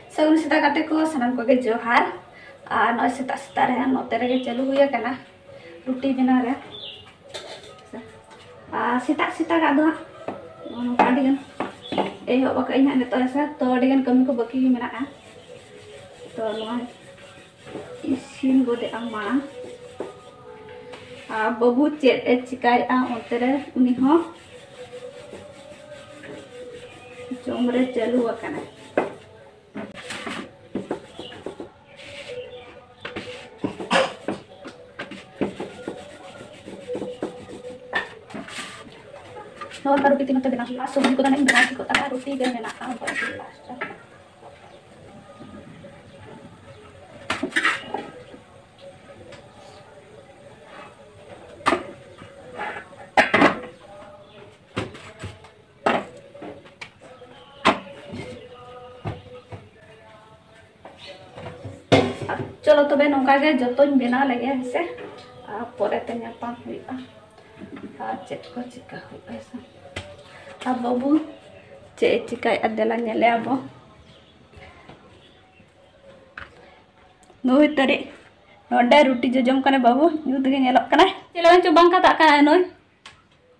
ᱥᱟᱹᱜᱩᱱ ᱥᱮᱛᱟᱜ ᱜᱟᱛᱮ ᱠᱚ ᱥᱟᱱᱟᱢ ᱠᱚᱜᱮ ᱡᱚᱦᱟᱨ ᱟᱨ ᱱᱚᱜᱼᱚᱭ ᱥᱮᱛᱟᱜ ᱥᱮᱛᱟᱜ ᱨᱮ ᱱᱚᱛᱮ ᱨᱮᱜᱮ ᱪᱟᱹᱞᱩ ᱦᱩᱭ ᱟᱠᱟᱱᱟ ᱨᱩᱴᱤ ᱵᱮᱱᱟᱣ ᱨᱮ ᱟᱨ ᱥᱮᱛᱟᱜ ᱥᱮᱛᱟᱜᱟᱜ ᱫᱚ ᱦᱟᱸᱜ ᱱᱚᱝᱠᱟ ᱟᱹᱰᱤ ᱜᱟᱱ ᱮᱦᱚᱵ ᱟᱠᱟᱫ ᱟᱹᱧ ᱦᱟᱸᱜ ᱱᱤᱛᱚᱜ ᱦᱮᱸᱥᱮ ᱛᱚ ᱟᱹᱰᱤ ᱜᱟᱱ ᱠᱟᱹᱢᱤ ᱠᱚ ᱵᱟᱹᱠᱤ ᱜᱮ ᱢᱮᱱᱟᱜᱼᱟ ᱛᱚ ᱱᱚᱣᱟ ᱤᱥᱤᱱ ᱜᱚᱫᱮᱜᱼᱟ ᱢᱟᱲᱟᱝ ᱟᱨ ᱵᱟᱹᱵᱩ ᱪᱮᱫ ᱮ ᱪᱤᱠᱟᱹᱭᱮᱫᱼᱟ ᱚᱱᱛᱮ ᱨᱮ ᱩᱱᱤ ᱦᱚᱸ ᱡᱚᱢ ᱨᱮ ᱪᱟᱹᱞᱩ ᱟᱠᱟᱱᱟ ᱱᱚᱣᱟ ᱠᱟᱨᱚᱴᱤ ᱛᱤᱱᱟᱹᱜ ᱛᱮ ᱵᱮᱱᱟᱣ ᱦᱩᱭᱩᱜᱼᱟ ᱥᱚᱵᱽᱡᱤ ᱠᱚᱫᱚ ᱱᱟᱦᱟᱜ ᱵᱮᱱᱟᱣ ᱴᱷᱤᱠ ᱠᱚᱜ ᱛᱟᱢᱟ ᱨᱩᱴᱤ ᱜᱮ ᱢᱮᱱᱟᱜᱼᱟ ᱪᱚᱞᱚ ᱛᱚᱵᱮ ᱱᱚᱝᱠᱟ ᱜᱮ ᱡᱚᱛᱚᱧ ᱵᱮᱱᱟᱣ ᱞᱮᱜᱮ ᱦᱮᱸᱥᱮ ᱟᱨ ᱯᱚᱨᱮᱛᱮ ᱧᱟᱯᱟᱢ ᱦᱩᱭᱩᱜᱼᱟ ᱟᱨ ᱪᱮᱫ ᱠᱚ ᱪᱤᱠᱟ ᱦᱩᱭᱩᱜᱼᱟ ᱦᱮᱸᱥᱮ ᱟᱨ ᱵᱟᱹᱵᱩ ᱪᱮᱫ ᱮ ᱪᱤᱠᱟᱭᱮᱫᱼᱟ ᱫᱮᱞᱟ ᱧᱮᱞᱮᱭᱟ ᱵᱚ ᱱᱩᱭ ᱛᱟᱹᱨᱤ ᱱᱚᱰᱮ ᱨᱩᱴᱤ ᱡᱚᱡᱚᱢ ᱠᱟᱱᱟ ᱵᱟᱹᱵᱩ ᱧᱩᱛ ᱜᱮ ᱧᱮᱞᱚᱜ ᱠᱟᱱᱟ ᱪᱮᱫ ᱞᱮᱠᱟ ᱪᱚ ᱵᱟᱝ ᱠᱟᱛᱟᱜ ᱠᱟᱱᱟ ᱱᱩᱭ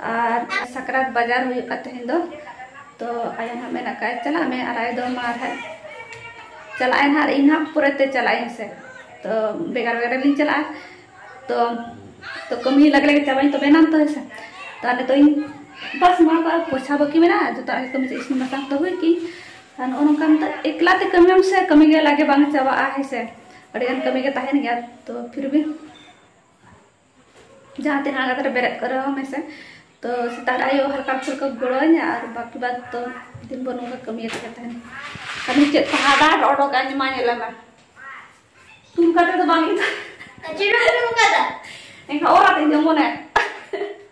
ᱟᱨ ᱥᱟᱠᱨᱟᱛ ᱵᱟᱡᱟᱨ ᱦᱩᱭᱩᱜ ᱠᱟᱱ ᱛᱮᱦᱮᱧ ᱫᱚ ᱛᱚ ᱟᱭᱳ ᱦᱟᱸᱜ ᱢᱮᱱᱟᱜ ᱠᱟᱜ ᱪᱟᱞᱟᱜ ᱢᱮ ᱟᱨ ᱟᱭᱳ ᱫᱚ ᱢᱟ ᱟᱨᱦᱟᱸᱜ ᱪᱟᱞᱟᱜ ᱟᱭ ᱦᱟᱸᱜ ᱤᱧ ᱦᱟᱸᱜ ᱯᱚᱨᱮᱛᱮ ᱪᱟᱞᱟᱜ ᱟᱹᱧ ᱥᱮ ᱛᱚ ᱵᱷᱮᱜᱟᱨ ᱵᱷᱮᱜᱟᱨ ᱞᱤᱧ ᱪᱟᱞᱟᱜᱼᱟ ᱛᱚ ᱛᱚ ᱠᱟᱹᱢᱤ ᱞᱟᱜᱮ ᱞᱟᱜᱮ ᱪᱟᱵᱟᱧ ᱛᱚᱵᱮ ᱱᱟᱢ ᱛᱚ ᱦᱮᱸᱥᱮ ᱛᱚ ᱟᱞᱮ ᱫᱚ ᱤᱧ ᱵᱟᱥ ᱱᱚᱣᱟ ᱠᱚ ᱟᱨ ᱯᱚᱭᱥᱟ ᱵᱟᱹᱠᱤ ᱢᱮᱱᱟᱜᱼᱟ ᱡᱚᱛᱚ ᱟᱜᱮ ᱠᱟᱹᱢᱤ ᱤᱥᱤᱱ ᱵᱟᱥᱟᱝ ᱛᱚ ᱦᱩᱭ ᱠᱤᱧ ᱟᱨ ᱱᱚᱜᱼᱚ ᱱᱚᱝᱠᱟ ᱱᱤᱛᱚᱜ ᱮᱠᱞᱟ ᱛᱮ ᱠᱟᱹᱢᱤᱭᱟᱢ ᱥᱮ ᱠᱟᱹᱢᱤ ᱜᱮ ᱞᱟᱜᱮ ᱵᱟᱝ ᱪᱟᱵᱟᱜᱼᱟ ᱦᱮᱸᱥᱮ ᱟᱹᱰᱤᱜᱟᱱ ᱠᱟᱹᱢᱤ ᱜᱮ ᱛᱟᱦᱮᱱ ᱜᱮᱭᱟ ᱛᱚ ᱯᱷᱤᱨ ᱵᱷᱤ ᱡᱟᱦᱟᱸ ᱛᱤᱱᱟᱹᱜ ᱟᱸᱜᱟᱛ ᱨᱮ ᱵᱮᱨᱮᱫ ᱠᱚᱨᱮ ᱦᱚᱸ ᱢᱮᱥᱮ ᱛᱚ ᱥᱮᱛᱟᱜ ᱟᱭᱳ ᱦᱟᱞᱠᱟ ᱯᱷᱩᱞᱠᱟ ᱜᱚᱲᱚᱣᱟᱹᱧᱟ ᱟᱨ ᱵᱟᱠᱤ ᱵᱟᱫ ᱛᱚ ᱫᱤᱱ ᱵᱷᱳᱨ ᱱᱚᱝᱠᱟ ᱠᱟᱹᱢᱤᱭᱮᱫ ᱜᱮ ᱛᱟᱦᱮᱱ ᱠᱟᱹᱢᱤ ᱪᱮᱫ ᱠᱚ ᱦᱟᱰᱟᱨ ᱚᱰᱚᱠ ᱟᱹᱧ ᱢᱟ ᱧᱮᱞ ᱢᱮ ᱛᱩᱞ ᱠᱟᱛᱮ ᱫᱚ ᱵᱟᱝ ᱜᱮ ᱪᱮᱫ ᱮᱢ ᱠᱟᱫᱟ ᱮᱱᱠᱷᱟᱱ ᱚᱨ ᱟᱛᱮᱧ ᱡᱚᱢᱚᱱᱮ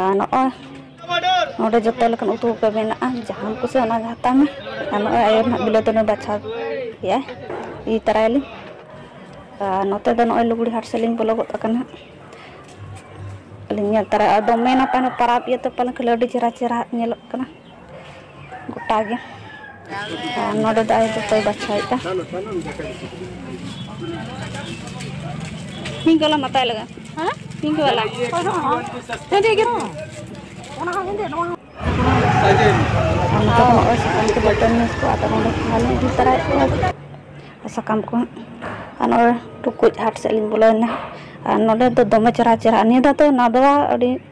ᱟᱨ ᱱᱚᱜᱼᱚᱭ ᱱᱚᱰᱮ ᱡᱚᱛᱚ ᱞᱮᱠᱟᱱ ᱩᱛᱩ ᱠᱚ ᱢᱮᱱᱟᱜᱼᱟ ᱡᱟᱦᱟᱸᱢ ᱠᱩᱥᱤᱭᱟᱜᱼᱟ ᱚᱱᱟᱜᱮ ᱦᱟᱛᱟᱣ ᱢᱮ ᱟᱨ ᱱᱚᱜᱼᱚᱭ ᱟᱭᱳ ᱱᱟᱦᱟᱜ ᱵᱤᱞᱟᱹᱛᱤ ᱱᱩᱭ ᱵᱟᱪᱷᱟᱣ ᱠᱮᱜᱼᱟᱭ ᱤᱫᱤ ᱛᱟᱨᱟᱭᱟᱞᱤᱧ ᱟᱨ ᱱᱚᱛᱮ ᱫᱚ ᱱᱚᱜᱼᱚᱭ ᱞᱩᱜᱽᱲᱤ ᱦᱟᱴ ᱥᱮᱫ ᱞᱤᱧ ᱵᱚᱞᱚ ᱜᱚᱫ ᱟᱠᱟᱱᱟ ᱟᱹᱞᱤᱧ ᱧᱮᱞ ᱛᱟᱨᱟᱭᱟ ᱟᱨ ᱫᱚᱢᱮ ᱱᱟᱯᱟᱭ ᱯᱟᱨᱟᱵᱽ ᱤᱭᱟᱹᱛᱮ ᱯᱟᱞᱮᱱ ᱠᱷᱟᱹᱞᱤ ᱟᱹᱰᱤ ᱪᱮᱦᱨᱟ ᱪᱮᱦᱨᱟ ᱧᱮᱞᱚᱜ ᱠᱟᱱᱟ ᱜᱚᱴᱟ ᱜᱮ ᱟᱨ ᱱᱚᱰᱮ ᱫᱚ ᱟᱡ ᱫᱚᱛᱚᱭ ᱵᱟᱪᱷᱟᱣᱮᱫᱼᱟ ᱯᱤᱝᱠ ᱵᱟᱞᱟ ᱢᱟᱛᱟᱭ ᱞᱟᱜᱟ ᱦᱮᱸ ᱯᱤᱝᱠ ᱵᱟᱞᱟ ᱦᱮᱸᱫᱮ ᱜᱮ ᱚᱱᱟ ᱦᱚᱸ ᱦᱮᱸᱫᱮ ᱱᱚᱣᱟ ᱦᱚᱸ ᱥᱟᱠᱟᱢ ᱠᱚ ᱟᱨ ᱱᱚᱜᱼᱚᱭ ᱴᱩᱠᱩᱡ ᱦᱟᱴ ᱥᱮᱫ ᱞᱤᱧ ᱵᱚᱞᱚᱭᱮᱱᱟ ᱟᱨ ᱱᱚᱰᱮ ᱫᱚ ᱫᱚᱢᱮ ᱪᱮᱦᱨᱟ ᱪᱮᱦᱨᱟ ᱱᱤᱭᱟᱹ ᱫᱷᱟᱣ ᱫᱚ ᱱᱟᱫᱽᱣᱟ ᱟᱹᱰᱤ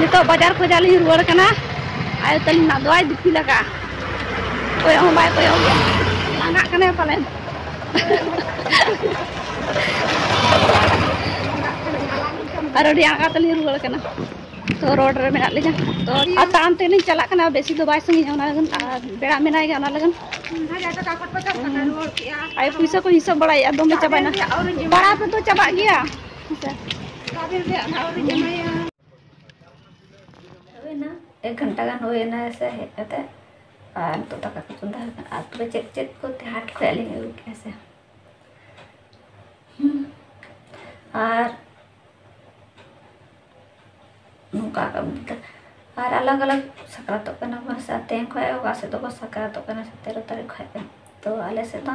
ᱱᱤᱛᱚᱜ ᱵᱟᱡᱟᱨ ᱠᱷᱚᱡᱟᱜ ᱞᱤᱧ ᱨᱩᱣᱟᱹᱲ ᱠᱟᱱᱟ ᱟᱭᱳ ᱛᱟᱹᱞᱤᱧ ᱱᱟᱜ ᱫᱚᱭ ᱫᱤᱯᱤᱞ ᱟᱠᱟᱜᱼᱟ ᱠᱚᱭᱚᱜ ᱦᱚᱸ ᱵᱟᱭ ᱠᱚᱭᱚᱜ ᱜᱮᱭᱟ ᱞᱟᱸᱜᱟᱜ ᱠᱟᱱᱟᱭ ᱯᱟᱞᱮᱱ ᱟᱨ ᱟᱹᱰᱤ ᱟᱸᱜᱟ ᱛᱮᱞᱤᱧ ᱨᱩᱣᱟᱹᱲ ᱠᱟᱱᱟ ᱛᱚ ᱨᱳᱰ ᱨᱮ ᱢᱮᱱᱟᱜ ᱞᱤᱧᱟ ᱛᱚ ᱟᱨ ᱛᱟᱲᱟᱢ ᱛᱮᱞᱤᱧ ᱪᱟᱞᱟᱜ ᱠᱟᱱᱟ ᱵᱮᱥᱤ ᱫᱚ ᱵᱟᱭ ᱥᱟᱺᱜᱤᱧᱟ ᱚᱱᱟ ᱞᱟᱹᱜᱤᱫ ᱟᱨ ᱵᱮᱲᱟ ᱢᱮᱱᱟᱭ ᱜᱮᱭᱟ ᱚᱱᱟ ᱞᱟᱹᱜᱤᱫ ᱟᱭᱳ ᱯᱩᱭᱥᱟᱹ ᱠᱚ ᱦᱤᱥᱟᱹᱵ ᱵᱟᱲᱟᱭᱮᱫᱼᱟ ᱫᱚᱢᱮ ᱪᱟᱵᱟᱭᱮᱱᱟ ᱯᱟᱲᱟ ᱛᱮᱫᱚ ᱪᱟᱵᱟᱜ ᱜᱮᱭᱟ ᱮᱠ ᱜᱷᱚᱱᱴᱟ ᱜᱟᱱ ᱦᱩᱭᱮᱱᱟ ᱥᱮ ᱦᱮᱡ ᱠᱟᱛᱮ ᱟᱨ ᱱᱤᱛᱚᱜ ᱫᱟᱠᱟ ᱠᱚ ᱪᱚᱸᱫᱟ ᱦᱩᱭ ᱠᱟᱱᱟ ᱟᱨ ᱛᱚᱵᱮ ᱪᱮᱫ ᱪᱮᱫ ᱠᱚ ᱦᱟᱴ ᱠᱷᱚᱡ ᱟᱹᱞᱤᱧ ᱟᱹᱜᱩ ᱠᱮᱜᱼᱟ ᱥᱮ ᱟᱨ ᱱᱚᱝᱠᱟ ᱟᱨ ᱟᱞᱟᱜᱽ ᱟᱞᱟᱜᱽ ᱥᱟᱠᱨᱟᱛᱚᱜ ᱠᱟᱱᱟ ᱵᱚᱱ ᱥᱮ ᱛᱮᱦᱮᱧ ᱠᱷᱚᱡ ᱚᱠᱟ ᱥᱮᱫ ᱫᱚᱠᱚ ᱥᱟᱠᱨᱟᱛᱚᱜ ᱠᱟᱱᱟ ᱥᱚᱛᱮᱨᱚ ᱛᱟᱹᱨᱤᱠᱷ ᱠᱷᱚᱡ ᱛᱚ ᱟᱞᱮ ᱥᱮᱫ ᱫᱚ